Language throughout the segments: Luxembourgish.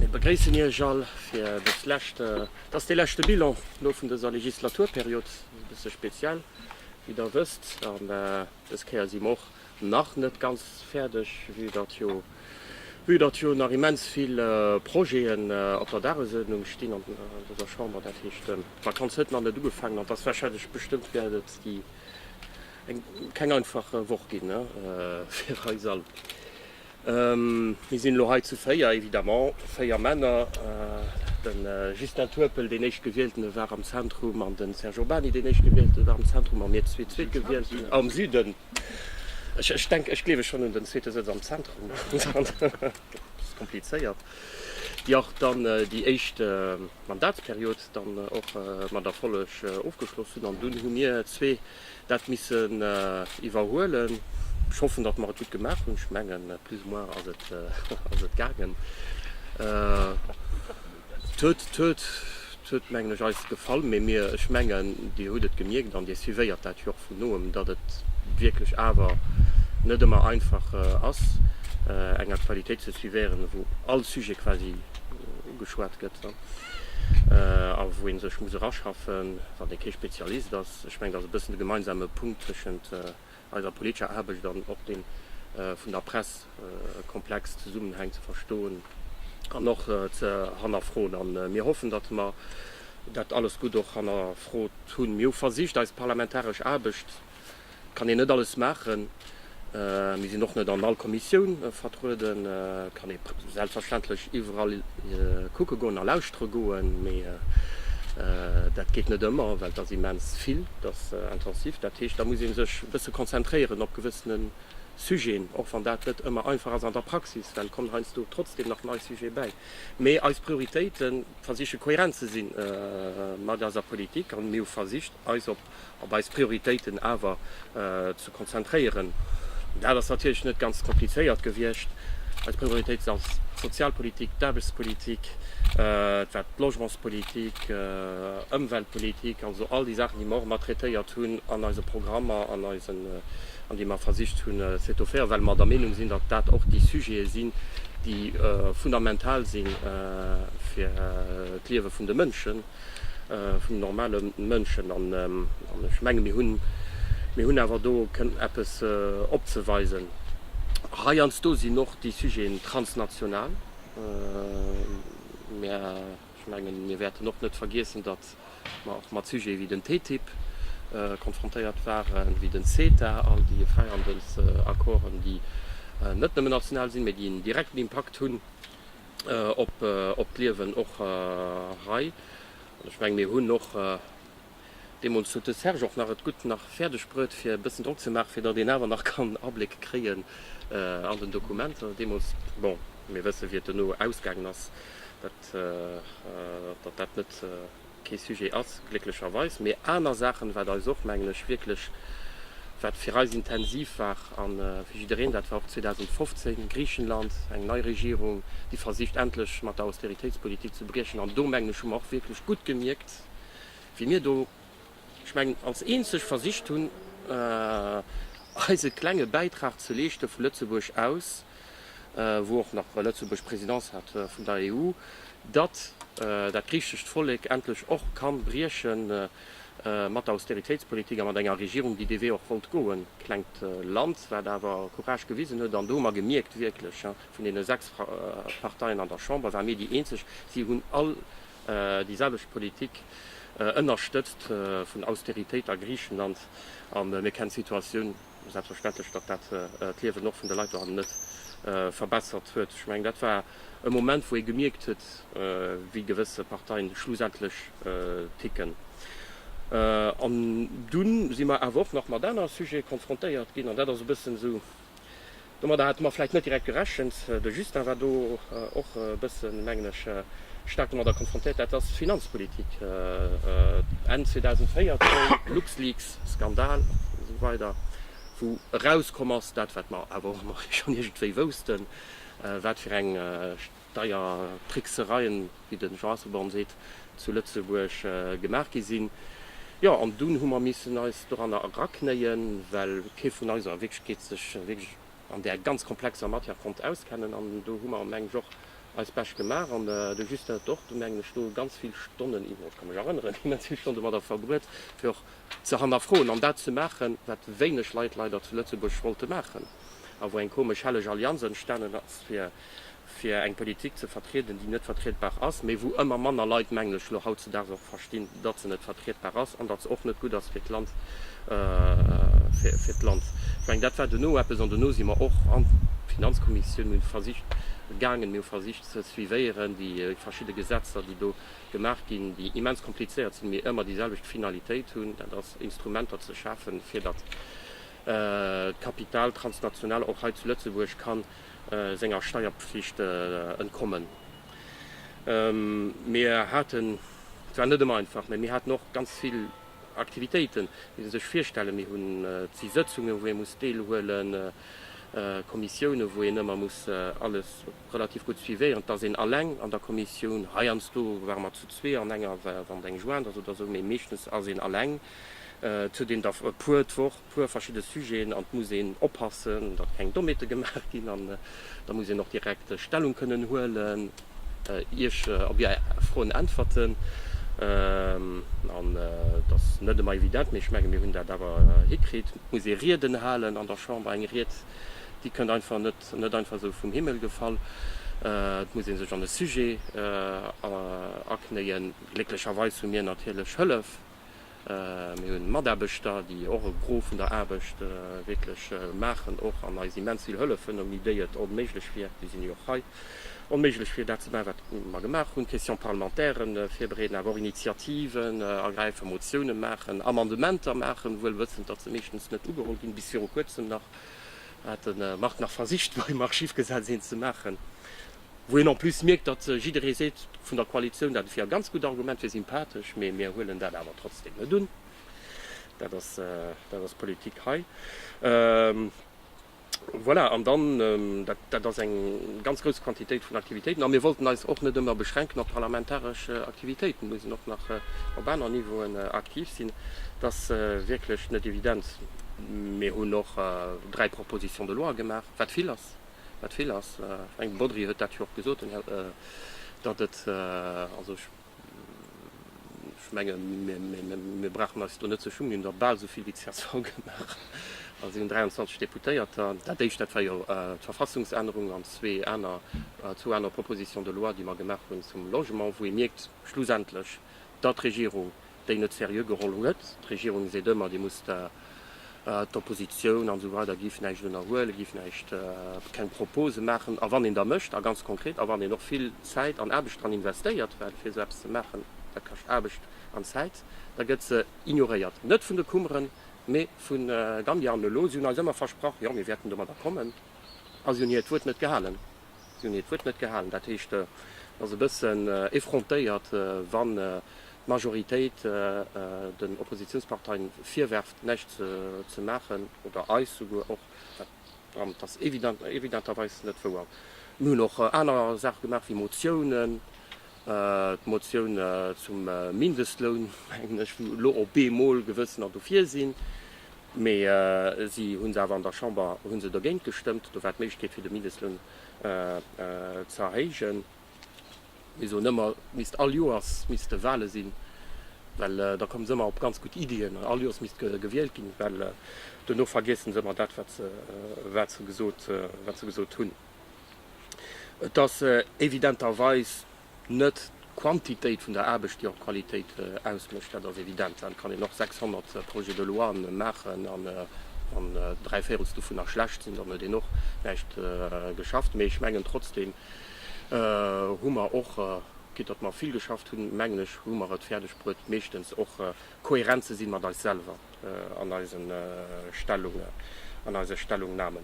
Mir begréissen Iech all fir dës lescht, et ass dee leschte Bilan elo vun dëser Legislaturperiod, e bësse speziell, wéi Der wësst. An dës Kéier si mer och nach net ganz fäerdeg, vue datt jo, vue datt jo nach immens vill Projeten op der Dagesuerdnung stinn an dëser Chamber. Dat heescht, d'Vakanz huet nach net ugefaangen an et ass warscheinlech, bestëmmt wäert et déi eng, keng einfach Woch ginn fir eis all. Mir sinn elo hei zu véier, évidemment véier Männer. De Justin Turpel, deen Éischtgewieltene war am Zentrum, an de Serge Urbany, deen Éischtgewieltene war am Zentrum, a mir zwee Zweetgewielten am Süden. Ech denken, ech gleewen schonn un den zweete Sëtz am Zentrum. Et ass komplizéiert, déi och dann déi éischt Mandatsperiod dann och mat Erfolleg ofgeschloss hunn. An dunn hu mir zwee dat missen iwwerhuelen. Ech hoffen, datt mer et gutt gemaach hunn. Ech mengen, plus ou moins ass et, ass et gaangen. Et huet, et huet, et huet, mengen ech, eis gefall. Mee mir, ech mengen, Dir hutt et gemierkt an Dir suivéiert dat jo och vun noem, datt et wierklech awer net ëmmer einfach ass, eng Aktualitéit ze suivéieren, wou all Sujet quasi ugeschwat gëtt a wou ee sech muss eraschaffen, wann ee kee Spezialist ass. Ech mengen, dass e bëssen de gemeinsame Punkt tëschent eiser politescher Aarbecht an och deem vun der Press e komplex Zesummenhang ze verstoen an och ze hannerfroen. A mir hoffen, datt mer dat alles gutt och hannerfrot hunn. Mir hu versicht, eis parlamentaresch Aarbecht, et kann een net alles maachen, Mir sinn och net an all Kommissioun vertrueden. Et kann ee selbstverständlech iwwerall kucke goen a lauschtere goen, mee dat geet net ëmmer, well et ass immens vill, et ass intensiv. Dat heescht, da muss ee sech e bësse konzentréieren op gewëssene Sujeten, och wann dat net ëmmer einfach ass an der Praxis, well et kommen heiansdo trotzdeem nach nei Sujete bäi. Mee eis Prioritéite versiche kohärent ze si mat eiser Politik a mir hu versicht, eis op op eis Prioritéiten awer ze konzentréieren. Dat ass natierlech net ganz komplizéiert gewiescht. Eis Prioritéiten ass d'Sozialpolitik, d'Aarbechtspolitik, et war d'Logementspolitik, Ëmweltpolitik, also all déi Saachen, déi mer och mat traitéiert hunn an eise Programmer an eisen, an déi mer versicht hunn ze étofféieren, well mer der Meenung sinn, datt dat och déi Sujete sinn, déi fundamental si fir d'Liewe vun de Mënschen. vun den normale Mënschen. An ech menge mir hunn, mir hunn awer do eppes opzeweisen. Heiansdo sinn och déi Sujeten transnational. Mä ech menge mir wäerten och net vergiessen, datt mer och mat Sujete wéi den TTIP konfrontéiert waren, wéi den CETA, all déi Fräihandelsaccorden, déi net nëmme national sinn, mä déi en direkten Impakt hunn. op d'Liewen och hei. An ech mengen, mir hunn och, deemools huet de Serge och nach et gutt nach fäerdeg bruet, fir e bëssen Drock ze maachen, fir datt een awer nach kann Abléck kréien an den Dokumenter deemools. Bon, mir wësse wéi et dono ausgaangen ass, datt dat net. kee Sujet ass, glécklecherweis, mee aner Saachen, wat eis och, mengen ech, wierklech, wat fir eis intensiv war, a fir jiddereen, dat war och 2015, Griichenland, eng nei Regierung, déi versicht endlech mat der Austeritéitspolitik ze briechen, an do, mengen ech, hu mer och wierklech gutt gemierkt, wéi mir do, ech mengen, als eenzeg versicht hunn, eise klenge Bäitrag ze leeschte vu Lëtzebuerg aus. wou och nach Lëtzebuerg Présidence hat vun der EU, datt dat griichescht Vollek endlech och ka brieche mat der Austeritéitspolitik a mat enger Regierung, déi dee Wee och wollt goen. Klengt Land, wat awer Courage gewisen huet. An do hu mer gemierkt, wierklech, vun deene sechs Parteien an der Chamber ware mir déi eenzeg, si hunn all déi selwecht Politik ënnerstëtzt vun Austeritéit a Griichenland a mir kennen d'Situatioun. Selbstverständlech, datt dat d'Liewen och vun de Leit dohannen net verbessert huet. Ech mengen, dat war e Moment, wou ee gemierkt huet, wéi gewësse Parteien schlussendlech ticken. An dunn si mer awer och nach mat aner Sujete konfrontéiert ginn. An dat ass e bëssen esou Domadder hate mer vläicht net direkt gerechent. De Justin war do och e bësse mengen ech staark domadder konfrontéiert. Dat ass Finanzpolitik. Enn 2014, Luxleaks Skandal an esou weider, wou erauskomm ass, dat wat mer awer och ëmmer schonn iergendwéi woussten, wat fir eng deier Tricksereien, wéi de Jean Asselborn seet, zu Lëtzebuerg gemaach gi sinn. Jo, an dunn hu mer missen eis doranner eraknéien, well kee vun eis a Wierklechkeet sech wierklech an där ganz komplexer Matière konnt auskennen. An do hu mer, mengen ech, och eis Bescht gemaach. An de Justin hat och do, mengen ech, do ganz vill Stonnen, iwwer, ech ka mech erënneren, immens vill Stonnen domadder verbruet, fir och ze hannerfroen an dat ze maachen, wat wéineg Leit leider zu Lëtzebuerg wollte maachen a wou eng komesch helleg Allianz entstanen ass, fir fir eng Politik ze vertrieden, déi net vertriedbar ass, mä wou ëmmer manner Leit, mengen ech, elo hautzedaags och verstinn, datt se net vertriedbar ass an datt se och net gutt ass fir d'Land. Ech mengen, dat war duerno eppes, an duerno si mer och an d'Finanzkommissioun, mir hu versicht gaangen, mir hu versicht ze suivéieren déi verschidde Gesetzer, déi do gemaach ginn, déi immens komplizéiert sinn, mä ëmmer déi selwecht Finalitéit hunn, dat ass Instrumenter ze schafen, fir datt d'Kapital transnational och hei zu Lëtzebuerg kann senger Steierpflicht entkommen. Mir haten, et war net ëmmer einfach, mä mir haten och ganz vill Aktivitéiten, déi se sech virstellen. Mir hunn vill Sëtzungen, wou ee muss deelhuelen, Kommissiounen, wou een ëmmer muss alles relativ gutt suivéieren. Et ass een alleng an der Kommissioun, heiansdo ware mer zu zwee an enger, wann et eng joint ass oder esou, mä meeschtens ass een alleng, et huet een der e puer d'Woch. puer verschidde Sujeten an et muss een oppassen, datt keng Dommheete gemaach ginn an da muss een och direkt Stellung kënnen huelen, Iech op Är Froen äntwerten an et ass net ëmmer evident, mee ech menge mir hunn dat awer hikritt. Et muss ee Rieden halen an der Chamber, eng Ried déi kënnt einfach net net einfach esou vum Himmel gefall, et muss ee sech an e Sujet aknéien. Glécklecherweis hu mir natierlech Hëllef. Mir hunn Mataarbechter, déi och e Gros vun der Aarbecht wierklech maachen och an eis immens vill hëllefen. Ouni déi et onméiglech wier, déi sinn jo och hei, onméiglech wier dat ze maachen, wat mer gemaach hunn, Questions parlementairen virbereeden, awer och Initiativen ergräifen, Motiounen maachen, Amendementer maachen, wuel wëssend, datt se meeschtens net ugeholl ginn. Bis viru Kuerzem nach hat de Marc nach versicht, beim Archivgesetz een ze maachen. wou een en plus mierkt, datt jidderee seet vun der Koalitioun, dat wier e ganz gutt Argument, wier sympathesch, mee mir huelen dat awer trotzdem net un. Dat ass, dat ass d'Politik hei. Voilà, an dann, dat, dat ass eng ganz grouss Quantitéit vun Aktivitéiten. A mir wollten eis och net ëmmer beschränken op parlamentaresch Aktivitéiten, mussen och nach op aner Niveauen aktiv sinn. Et ass wierklech net evident. Mir hunn och dräi Propositions de loi gemaach, wat vill ass. wat vill ass. Ech mengen, de Bodry huet dat jo och gesot, datt et, also ech menge mir brauchen eis do net ze schummen, mir hunn der bal esou vill wéi csv gemaach, well si hunn 23 Deputéierter. Dat Éischt, dat war jo d'Verfassungsännerung an zwee aner, zwou aner Propositions de loi, déi mer gemaach hunn zum Logement, wou ee mierkt schlussendlech, datt d'Regierung déi net seriö geholl huet. D'Regierung seet ëmmer, dir musst da, d'Oppositioun an esou weider, giff näischt ënnerhuelen, giff näischt, keng Propose maachen. A wann een da mécht, a ganz konkret, a wann een och vill Zäit an Aarbecht dran investéiert, well fir esou eppes ze maachen, dat kascht Aarbecht an Zäit, da gëtt se ignoréiert. Net vun de Kummeren, mä vu Gambia. An elo, si hunn eis ëmmer versprach, jo, mir wäerten domadder kommen, a si hunn hiert Wuert net gehalen. Si hunn hiert Wuert net gehalen. Dat heescht, et ass e bëssen effrontéiert, wann d'Majoritéit den Oppositiounsparteien virwerft, näischt ze maachen, oder eis souguer och. Dat ass evidenterweis net wouer. Mir hunn och aner Saache gemaach, wéi Motiounen D'Motioun zum Mindestloun, mengen ech, wou elo op eemol Gewëssener dofir sinn, mee si hu se awer an der Chamber hu se dergéint gestëmmt. Do war d'Méiglechkeet fir de Mindestloun ze erhéijen. Mir soen ëmmer, et misst all Joers misste Wahle sinn, well da komme se ëmmer op ganz gutt Iddien. All Joers misst gewielt ginn, well dono vergiessen se ëmmer dat, wat se gesot hunn. Et ass evidenterweis net d'Quantitéit vun der Aarbecht, déi och d'Qualitéit ausmécht. Dat ass evident. Dann kann een och 600 Projets de loi maachen an wann dräi Véirels dovunner schlecht sinn, dann huet een och näischt geschafft. Mee ech mengen trotzdeem hu mer och, quitte datt mer vill geschafft hunn, mengen ech, hu mer et fäerdeg bruet, meeschtens och kohärent ze sinn mat eis selwer an eisen Stellungen, an eise Stellungnahmen.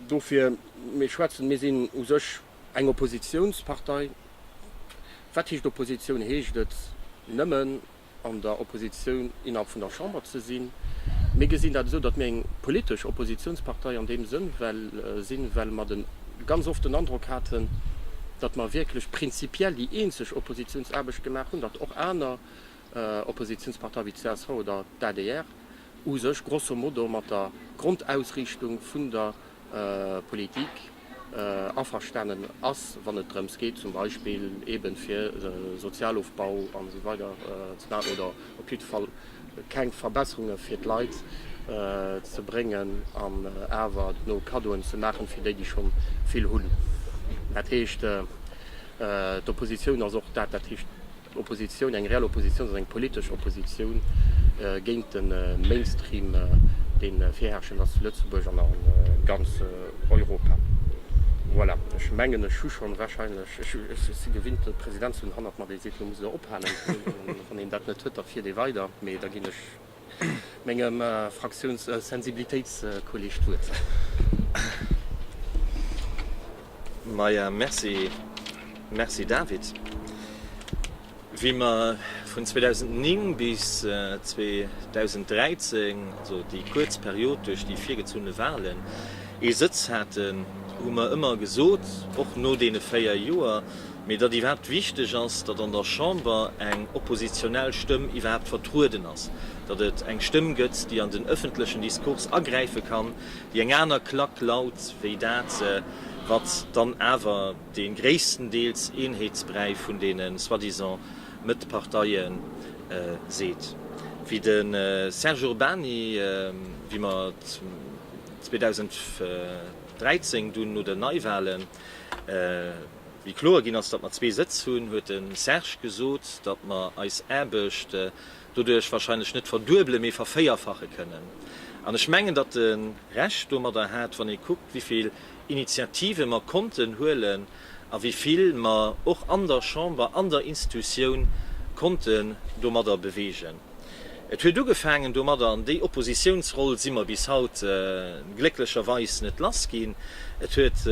Dofir, mir schwätzen, mir sinn u sech eng Oppositionspartei. Wat heescht Opposition? Heescht et nëmmen an der Opposition innerhalb vun der Chamber ze sinn? Mir gesinn dat esou, datt mir eng politesch Oppositionspartei an deem Sënn well sinn, well mer den ganz oft den Androck haten, datt mer wierklech prinzipiell déi eenzeg Oppositiounsaarbecht gemaach hunn, datt och aner Oppositiounsparteie wéi d'CSV oder d'ADR u sech grosso modo mat der Grondausriichtung vun der Politik averstanen ass, wann et drëms geet zum Beispill eeben fir Sozialofbau an esou weider ze maachen oder Op jidde Fall keng Verbesserunge fir d'Leit ze bréngen an awer dono Kaddoen ze maachen, fir déi, déi scho vill hunn. Dat heescht, d'Oppositioun ass och dat. Dat heescht, d'Oppositioun, eng reell Oppositioun, ass eng politesch Oppositioun géint de Mainstream, dee virherrschend ass zu Lëtzebuerg an a ganz Europa. Voilà, ech mengen, ech hu schonn warscheinlech, ech si gewinnt, de President ze hunn hannert mer, dee seet, Elo musst Der ophalen. Wann een dat net huet, da fiert ee weider. Mee da ginn ech mengem Fraktiounssensibilitéitskolleeg d'Wuert. Maja, merci, merci David. Wéi mer vun 2009 bis 2013, also déi kuerz Period duerch déi virgezunne Wahlen, ee Sëtz haten, hu mer ëmmer gesot, och no deene véier Joer, Mee datt iwwerhaapt wichteg ass, datt an der Chamber eng oppositionell Stëmm iwwerhaapt vertrueden ass, datt et eng Stëmm gëtt, déi an den ëffentlechen Diskurs agräife kann, déi eng aner Klack laut wéi dat, wat dann awer dee gréisstendeels Eenheetsbräi vun deene soi-disant Mëtt-Parteie seet, wéi de Serge Urbany, wéi mer 2013 dunn no den Neiwahlen, Wéi kloer ginn ass, datt mer zwee Sëtz hunn, huet de Serge gesot, datt mer eis Aarbecht doduerch wahrscheinlech net verduebele mee vervéierfache kënnen. An ech mengen, datt e Recht domadder hat, wann ee kuckt, wéi vill Initiative mer konnten huelen a wéi vill mer och an der Chamber, an der Institutioun konnten domadder bewegen. Et huet ugefaangen domadder, an déi Oppositiounsroll si mer bis haut glécklecherweis net lass ginn, et huet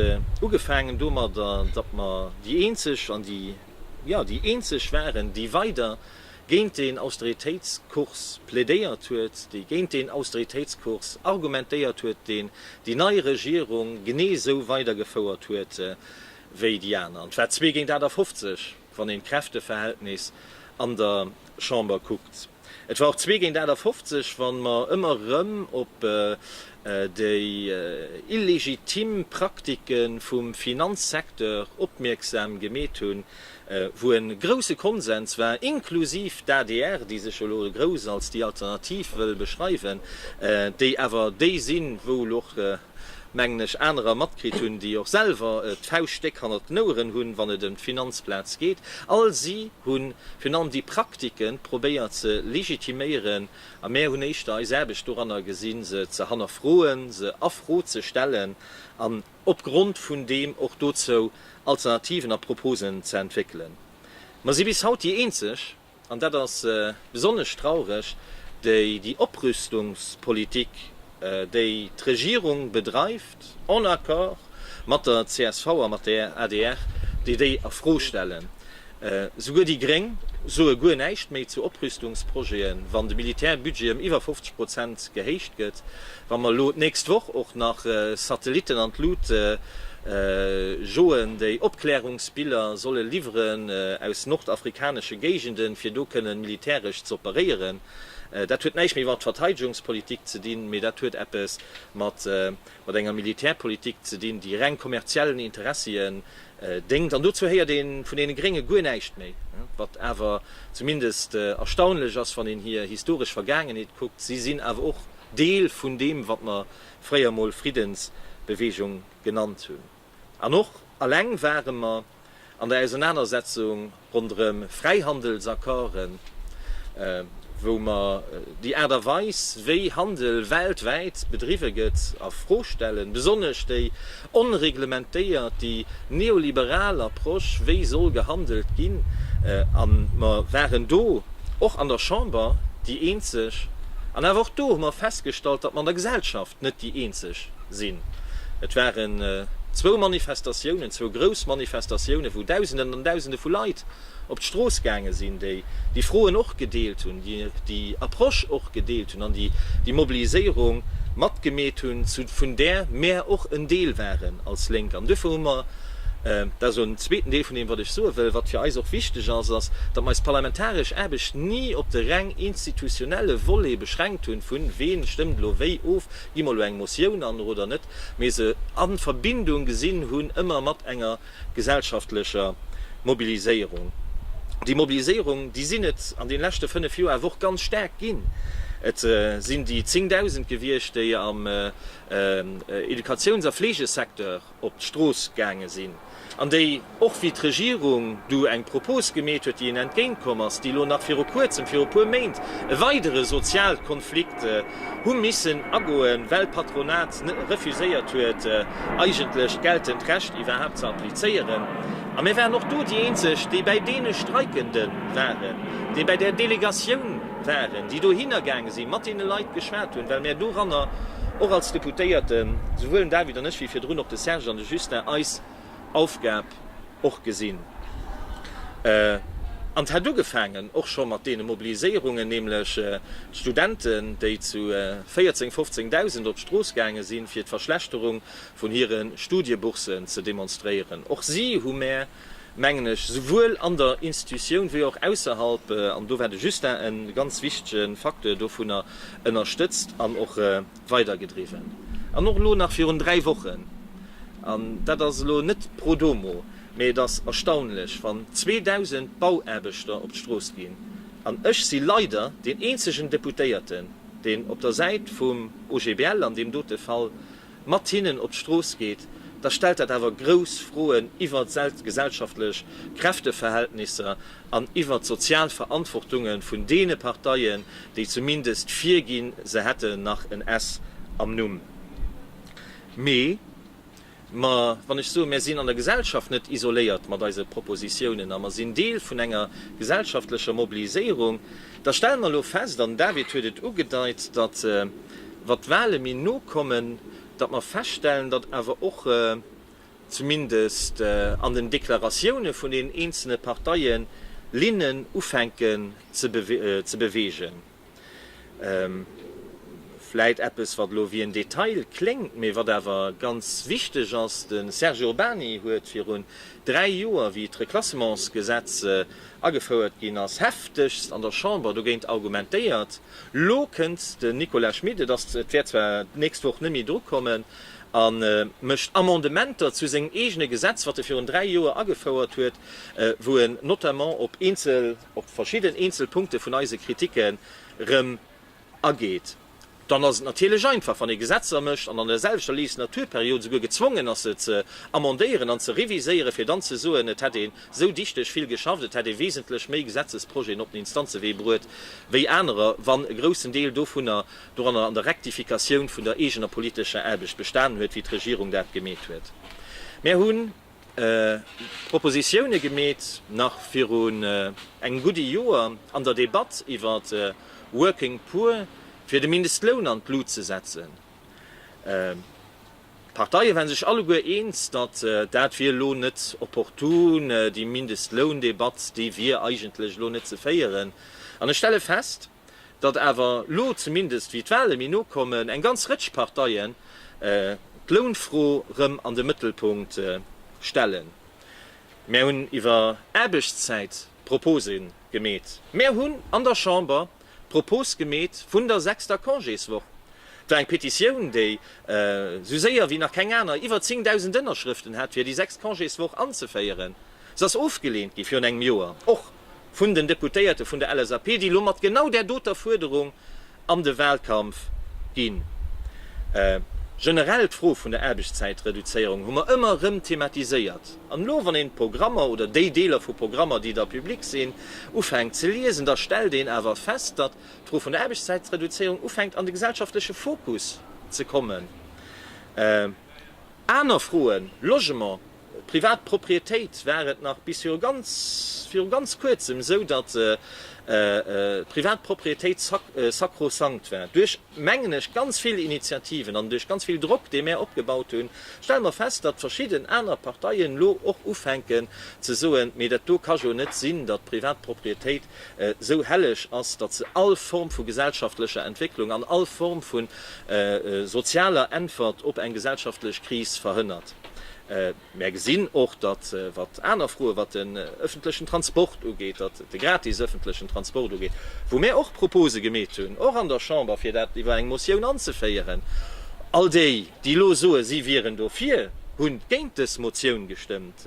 ugefaangen domadder, datt mer déi eenzeg an déi, jo, déi eenzeg waren, déi weider géint deen Austeritéitskurs plädéiert huet, déi géint deen Austeritéitskurs argumentéiert huet, deen déi nei Regierung genee esou weidergefouert huet wéi déi aner. An et war zwee géint 58. wann een d'Kräfteverhältnis an der Chamber kuckt. Et war och zwee géint 58, wann mer ëmmer erëm op déi illegitim Praktike vum Finanzsecteur opmierksam gemeet hunn, wou e grouse Konsens war, inklusiv d'ADR, déi sech jo elo grouss als déi Alternativ wëll beschreiwen, déi awer déi sinn, wou elo och mengen ech, anerer matkritt hunn, déi och selwer d'Fauscht déck hannert den Oueren hunn, wann et ëm d'Finanzplaz geet. All si hu virun allem déi Praktike probéiert ze legitiméieren, a mär hunn éischter eis Aarbecht doranner gesinn, se ze hannerfroen, se a Fro ze stellen an opgrond vun deem och dozou Alternativen a Proposen ze entwéckelen. Mer si bis haut déi eenzeg, an dat ass besonnesch traureg, déi déi Oprüstungspolitik, déi d'Regierung bedreift, en Accord mat der csv a mat der adr, déi déi a Fro stellen. Souguer déi Gréng soe guer näischt méi zu Oprüstungsprojeten, wann de Militärbudget ëm iwwer 50 Prozent gehéicht gëtt. Wa mer elo d'nächst Woch och nach Satellitten an d'Lut joen, déi Opklärungsbiller solle liwweren aus nordafrikanesche Géigenden, fir do kënnen militäresch ze operéieren, dat huet näischt méi mat Verteidegungspolitik ze dinn, mee dat huet eppes mat enger Militärpolitik ze dinn, déi reng kommerziellen Interessien déngt. An dozou héiert ee vun deene Grénge guer näischt méi. Wat awer zumindest erstaunlech ass, wann een hir historesch Vergaangenheet kuckt, si sinn awer och Deel vun deem, wat mer fréier mol Friddensbewegung genannt hunn. An och alleng ware mer an der Ausernanersetzung ronderëm Fräihandelsaccorden, wou mer déi Aart a Weis, wéi Handel weltwäit bedriwwe gëtt, a Fro stellen, besonnesch déi Onreglementéiert, déi neoliberal Approche, wéi soll gehandelt ginn? A mer waren do och an der Chamber déi Eenzeg. An awer och do hu mer festgestallt, datt mer an der Gesellschaft net déi Eenzeg sinn. Et waren zwou Manifestatiounen, zwou grouss Manifestatiounen, wou Dausenden an Dausende vu Leit op d'Strooss gaange sinn, déi déi Froen och gedeelt hunn, déi déi Approche och gedeelt hunn an déi déi Mobiliséierung matgemeet hunn, zu vun där mär och en Deel waren als Lénk. An duerfir hu mer, dat ass en zweeten Deel vun deem, wat ech soe wëll, wat fir eis och wichteg ass, ass, datt mer eis parlamentaresch Aarbecht ni op de reng institutionelle Volet beschränkt hunn, vu ween stëmmt elo wéi of, gi mer elo eng Motioun an oder net, mee se a Verbindung gesinn hunn ëmmer mat enger. gesellschaftlecher Mobiliséierung. Déi Mobiliséierung, déi sinn et an deene leschte fënnef Joer awer och ganz staark ginn. Et sinn déi Zéngdausend gewiescht, déi am Educatiouns a Fleegesecteur op d'Strooss gaange sinn an déi, och wéi d'Regierung du eng Propos gemeet huet, déi en entgéintkomm ass, déi elo nach viru kuerzem, viru e puer Méint, e weidere Sozialkonflikt, hu missen agoen, well d'Patronat refuséiert huet, eigentlech geltend Recht iwwerhaapt ze applizéieren. A mir waren och do déi Eenzeg, déi bäi deene Streikende waren, déi bäi där Delegatioun waren, déi dohinner gaange si mat deene Leit geschwat hunn, well mir doranner och als Deputéierten, souwuel den David an ech wéi virdrun och de Serge an de Justin, eis, Aufgab och gesinn an d'hätt ugefaangen och scho mat deene Mobiliséierungen, nämlech d'Studenten, déi zu 14, 15 Dausend op d'Strooss gaange sinn, fir d'Verschlechterung vun hire Studieboursen ze demonstréieren. Och si hu mär, mengen ech, souwuel an der Institutioun wéi och ausserhalb, an do war de Justin e ganz wichtege Facteur dovunner, ënnerstëtzt an och weidergedriwwen an och elo nach virun dräi Wochen, an dat ass elo net pro domo, mee et ass erstaunlech, wann 2.000 Bauaarbechter op d'Strooss ginn, an ech si leider deen eenzegen Deputéierten, deen op der Säit vum OGBL an deem dote Fall mat hinnen op d'Strooss geet, da stellt dat awer grouss Froen iwwert d'gesellschaftlech Kräfteverhältnisser. an iwwert d'sozial Verantwortungen vun deene Parteien, déi zumindest virginn, se hätten nach en s am Numm. Mee mer, wann ech soe mer sinn an der Gesellschaft net isoléiert mat eise Propositiounen a mer sinn Deel vun enger gesellschaftlecher Mobiliséierung, da stelle mer elo fest, an den David huet et ugedeit, datt wat d'Wahle méi no kommen, datt mer feststellen, datt awer och, zumindest an den Deklaratioune vun den eenzelne Parteien, Linnen ufänken ze beweegen. Vläit eppes, wat elo wéi en Detail kléngt, mee wat awer ganz wichteg ass, De Serge Urbany huet virun dräi Joer, wéi d'Reclassementsgesetz agefouert ginn ass, heftegst an der Chamber dogéint argumentéiert. Elo kënnt den Nicolas Schmit, et wäert zwar d'nächst Woch net méi dru kommen, a mécht Amendementer zu sengem eegene Gesetz, wat e virun dräi Joer agefouert huet, wou en notamment op eenzel, op verschidden eenzel Punkte vun eise Kritike rëm ageet, dann ass et natierlech einfach, wann ee Gesetzer mécht an an der selwechter Legislaturperiod souguer gezwongen ass, se ze amendéieren an ze reviséieren, fir dann ze soen, et hätt een esou dichteg vill geschafft, et hätt ee wesentlech méi Gesetzesprojeten op den Instanzewee bruet wéi anerer, wann e groussen Deel dovunner doranner an der Rektifikatioun vun der eegener politescher Aarbecht bestanen huet, wéi d'Regierung dat gemeet huet. Mär hunn d'Propositione gemeet nach virun engem gudde Joer an der Debatt iwwer Working Poor, fir de Mindestloun an d'Lut ze setzen. D'Parteie waren sech alleguer eens, datt dat wier elo net opportun, déi Mindestloundebatt, déi wier eigentlech elo net ze féieren. An ech stelle fest. datt awer lo zumindest, wéi d'Wahle méi no kommen, eng ganz Rëtsch Parteien d'Lounfro rëm an de Mëttelpunkt stellen. Mär hunn iwwer Aarbechtszäit Propose gemeet. Mär hunn an der Chamber d'Propos gemeet vun der sechster Congéswoch. Et war eng Petitioun, déi esou séier wéi nach keng aner iwwer 10.000 Ënnerschrëften hat, fir déi sechst Congéswoch anzeféieren. Se ass ofgeleent gi virun engem Joer. vun den Deputéierte vun der LSAP, déi elo mat genau där doter Fuerderung an de Wahlkampf ginn. Generell d'Fro vun der Aarbechtszäitreduzéierung hu mer ëmmer erëm thematiséiert. An elo, wann een d'Programmer oder déi Deeler vu Programmer, déi da public sinn, ufänkt ze liesen, da stellt een awer fest, datt d'Fro vun der Aarbechtszäitreduzéierung ufänkt an de gesellschaftleche Fokus ze kommen. Aner Froen, Logement, Privat Proprietéit war et nach bis viru ganz viru ganz kuerzem esou, datt d'privat Proprietéit sakrosankt war. Duerch, mengen ech, ganz vill Initiativen an duerch ganz vill Drock, dee mär opgebaut hunn, stelle mer fest, datt verschidden aner Parteien elo och ufänken ze soen, mee dat do ka jo net sinn, datt d'privat Proprietéit esou helleg ass, datt se all Form vu gesellschaftlecher Entwécklung an all Form vu sozialer Äntwert op eng gesellschaftlech Kris verhënnert. Mär gesinn och, datt, wat aner Froe, wat den öffentlechen Transport ugeet, datt de gratis öffentlechen Transport ugeet, wou mär och Propose gemeet hunn, och an der Chamber, fir dat iwwer eng Motioun anzeféieren, all déi, déi elo soen, si wieren dofir, hu géint dës Motioun gestëmmt.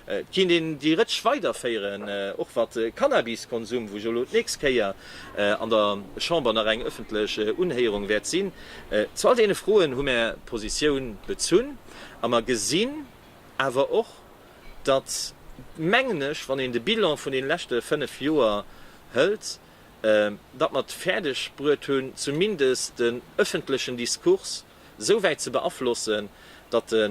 Et kinnt een déi Rëtsch weiderféieren, och wat de Cannabiskonsum, wou jo elo d'nächst Kéier an der Chamber nach eng ëffentlech Unhéierung wäert sinn. Zu all deene Froen hu mär Positioun bezunn a mer gesinn awer och, datt, mengen ech, wann een de Bilan vun deene leschte fënnef Joer hëlt, datt mer et fäerdeg bruet hunn, zumindest den ëffentlechen Discours, esou wäit ze beaflossen, datt e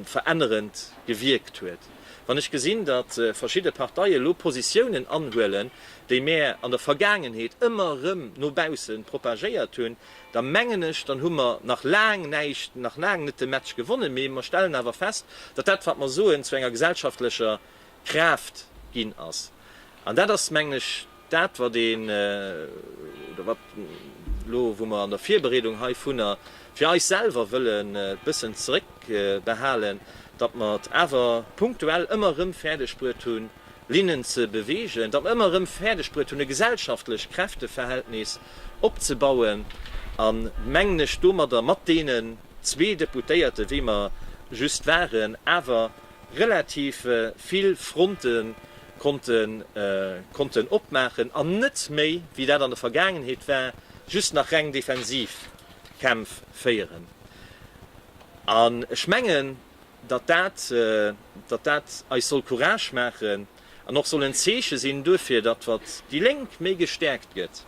verännerend gewierkt huet. Wann ech gesinn, datt verschidde Parteie elo Positiounen anhuelen, déi mär an der Vergaangenheet ëmmer erëm no bausse propagéiert hunn, da mengen ech, dann hu mer nach laang näischt, nach laang net de Match gewonnen. Mee mer stellen awer fest, datt dat, wat mer soen, zu enger gesellschaftlecher Kraaft ginn ass. An dat ass, mengen ech, dat, wat een, oder wat elo, wou mer an der Virbereedung heivunner fir eis selwer wëllen e bëssen zeréckbehalen, datt mer et awer punktuell ëmmer erëm fäerdegbruet hunn, Linnen ze beweegen, datt mer ëmmer erëm fäerdegbruet hunn, e gesellschaftlecht Kräfteverhältnis opzebauen an, mengen ech, domadder mat deenen zwee Deputéierte wéi mer just waren, awer relativ vill Fronte konnten opmaachen an net méi, wéi dat an der Vergaangenheet war, just nach reng defensiv Kämpf féieren. An ech mengen, datt dat eis soll Courage maachen, an och soll en Zeeche sinn duerfir, datt, wat déi Lénk méi gestäerkt gëtt,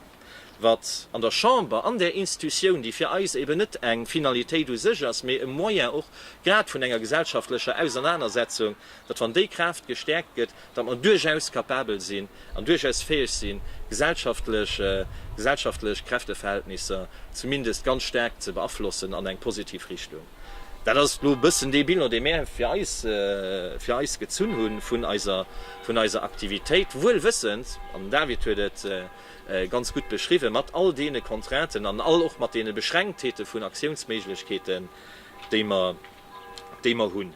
wat an der Chamber, an där Institutioun, déi fir eis eben net eng Finalitéit u sech ass, mee e Moyen och grad vun enger gesellschaftlecher Ausernanersetzung, datt, wann déi Kraaft gestäerkt gëtt, datt mer duerchaus capabel sinn an duerchaus fäeg sinn, gesellschaftlech gesellschaftlech Kräfteverhältnisser zumindest ganz staark ze beaflossen an eng positiv Richtung. Dat ass elo e bëssen dee Bilan, dee mir fir eis, fir eis gezunn hu vun eiser, vun eiser Aktivitéit, wuel wëssend, an den David huet et ganz gutt beschriwwen, mat all deene Contrainten an all och mat deene Beschränktheete vun Aktiounsméiglechkeeten, déi mer, déi mer hunn.